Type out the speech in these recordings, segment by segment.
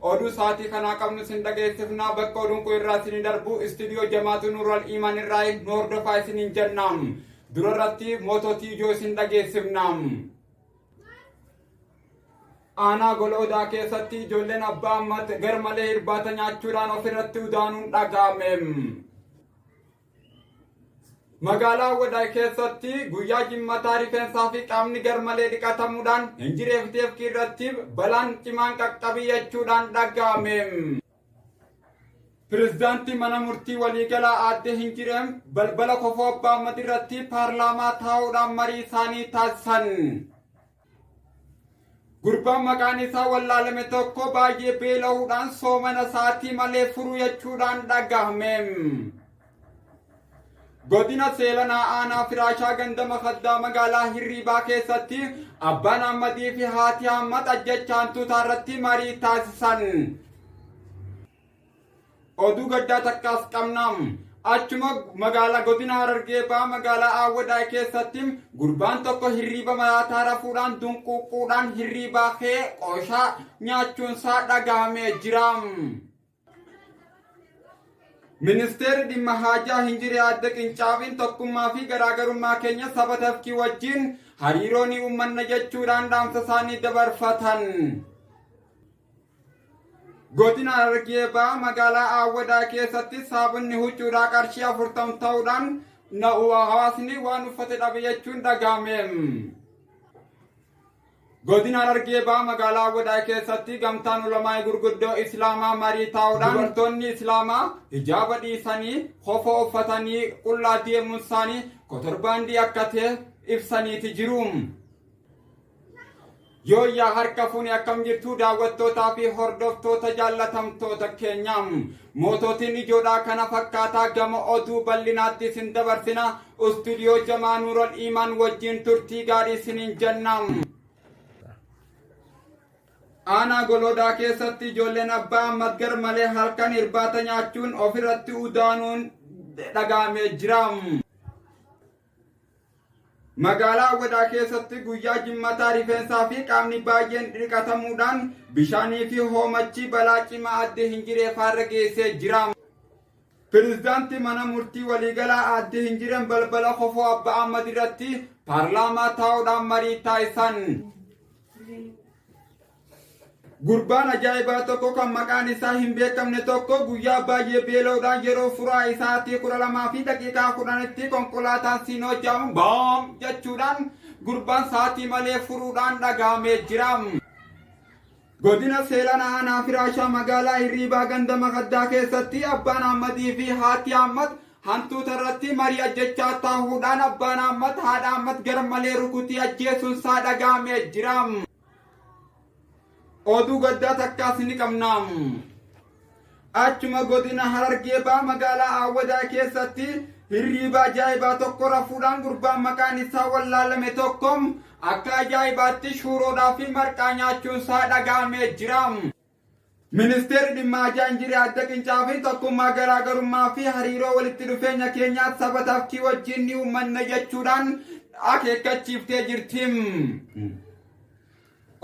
Oduu sa'aatii kanaa qabnu sin dhageessifnaa bakka oduun kun irraa isin darbu istiidiyoo jamaatu nuural iimaan irraa nu hordofaa isiniin jenna. Dura irratti moototii ijoo isin dhageessifna. Aanaa gola odaa keessatti ijoolleen abbaa ammaatti garmalee irbaata nyaachuudhaan ofirratti udaanuun dhaga'ame. Magaalaa Awwadaay keessatti guyyaa jimmataa rifeensaa fi qaamni garmalee dhiqatamuudhaan hinjireef teefkii irratti balaan cimaan qaqqabiyachuudhaan dhaga'ame. Pirezidaantii mana murtii waliigalaa aadde Hinjireem balbala kofoo abbaa Ahmad irratti paarlaamaa taa'uudhaan marii isaanii taasisan. Gurbaan maqaan isaa wallaalame tokko baay'ee beela'uudhaan soomana isaatii malee furuu jechuudhaan dhagahame. Godina seelanaa aanaa firaashaa gandama kaddaa magaalaa hirriibaa keessatti abbaan hammatii fi haati hammata ajjechaan tuutaa irratti marii taasisan. Oduu gaddaa takkaas qabna. Achuma magaalaa godina Harargee ba'aa magaalaa Awwadaa keessatti gurbaan tokko hirriiba maraataa rafuudhaan dunquuquudhaan hirriibaa kee qooshaa nyaachuunsaa dhagahamee jira. Ministeerri dhimma haajaa hin jire adda qincaafiin tokkummaa fi garaagarummaa keenya saba tafkii wajjin hariiroo ni uummanna jechuudhaan dhaamsa isaanii dabarfatan. Godina Harargee Bahaa magaalaa Aawwadaa keessatti saabonni huccuudhaa qarshii afurtam ta'uudhaan na'u hawaasni waan uffate dhabe jechuun dhaga'ame. Godina Harargee Bahaa magaalaa Aawwadaa keessatti gamtaan ulamaa gurguddoo Islaamaa marii taa'uudhaan dubartoonni Islaamaa hijaaba dhiisanii kofoo uffatanii qullaa deemuun isaanii kotorbaandii akka ta'e ibsaniiti jiru. Yooyyaa harka fuune akkam jirtuu daawwattootaa fi hordoftoota jaallatamtoota keenya. Mootootiin ijoodhaa kana fakkaataa gama oduu bal'inaatti isin dabarsina. Istuudiyoo Jamaa Nuural Iimaan wajjin turtii gaarii isiniin jenna. Aanaa Goloodaa keessatti ijoolleen abbaa ammas gar malee halkan irbaata nyaachuun ofirratti udaanuun dhagahamee jira. Magaalaa Awwadaa keessatti guyyaa jimmataa rifeensaa fi qaamni baay'een dhiqatamuudhaan bishaanii fi hoomachi balaa cimaa addee hin jiree faarra geessee jira. Pireezidaantii mana murtii waliigalaa addee hin jireen balbala kofoo Abba Ahmad irratti paarlaamaa taa'uudhaan marii taasisan. Gurbaan ajaa'ibaa tokko kan maqaan isaa hin beekamne tokko guyyaa baay'ee beela'uudhaan yeroo furaa isaatii kudha lamaa fi daqiiqaa kudhanitti konkolaataan siinoo jaamu baam jechuudhaan gurbaan saatii malee furuudhaan dhagaamee jira. Godina Seelan Aanaa Firaashaa magaalaa Hirriibaa ganda Makaddaa keessatti abbaan Ahmadii fi haati Ahmad hantuuta irratti marii ajjechaa taahuudhaan abbaan Ahmad haadha Ahmad garmalee rukutii ajjeesuun isaa dhagaamee jira. Oduu gaddaa takkaas ni qabna. Achuma godina Harargee baa magaalaa Awwadaa keessatti hirriiba ajaa'ibaa tokko rafuudhaan gurbaan maqaan isaa wallaalame tokko akka ajaa'ibaatti shuuroodhaa fi marqaa nyaachuun isaa dhaga'amee jira. Ministeerri Dhimma Ajaa Injirii Adda Qincaa fi Tokkummaa Garaagarummaa fi Hariiroo Walitti Dhufeenya Keenyaa Saba Tafkii Wajjin Ni Uummanna jechuudhaan akeekkachiiftee jirti.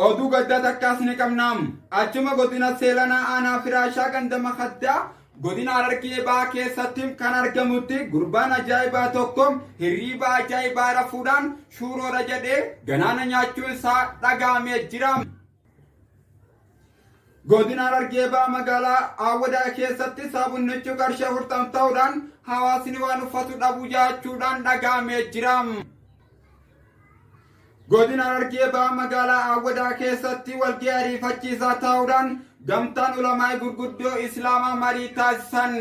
Oduu gaddaa takkaas ni qabna. Achuma godina Seelanaa Aanaa Firaashaa ganda Makaddaa godina Harargee Bahaa keessatti kan argamutti gurbaan ajaa'ibaa tokko hirriiba ajaa'ibaa rafuudhaan shuuroora jedhee ganaana nyaachuun isaa dhagahamee jira. Godina Harargee Bahaa magaalaa Awwadaa keessatti sabunnichi qarshii afurtama ta'uudhaan hawaasni waan uffatu dhabuu jaachuudhaan dhaga'amee jira. Godina Harargee Bahaa magaalaa Awwadaa keessatti walga'ii ariifachiisaa ta'uudhaan gamtaan ulamaa gurguddoo Islaamaa marii taasisan.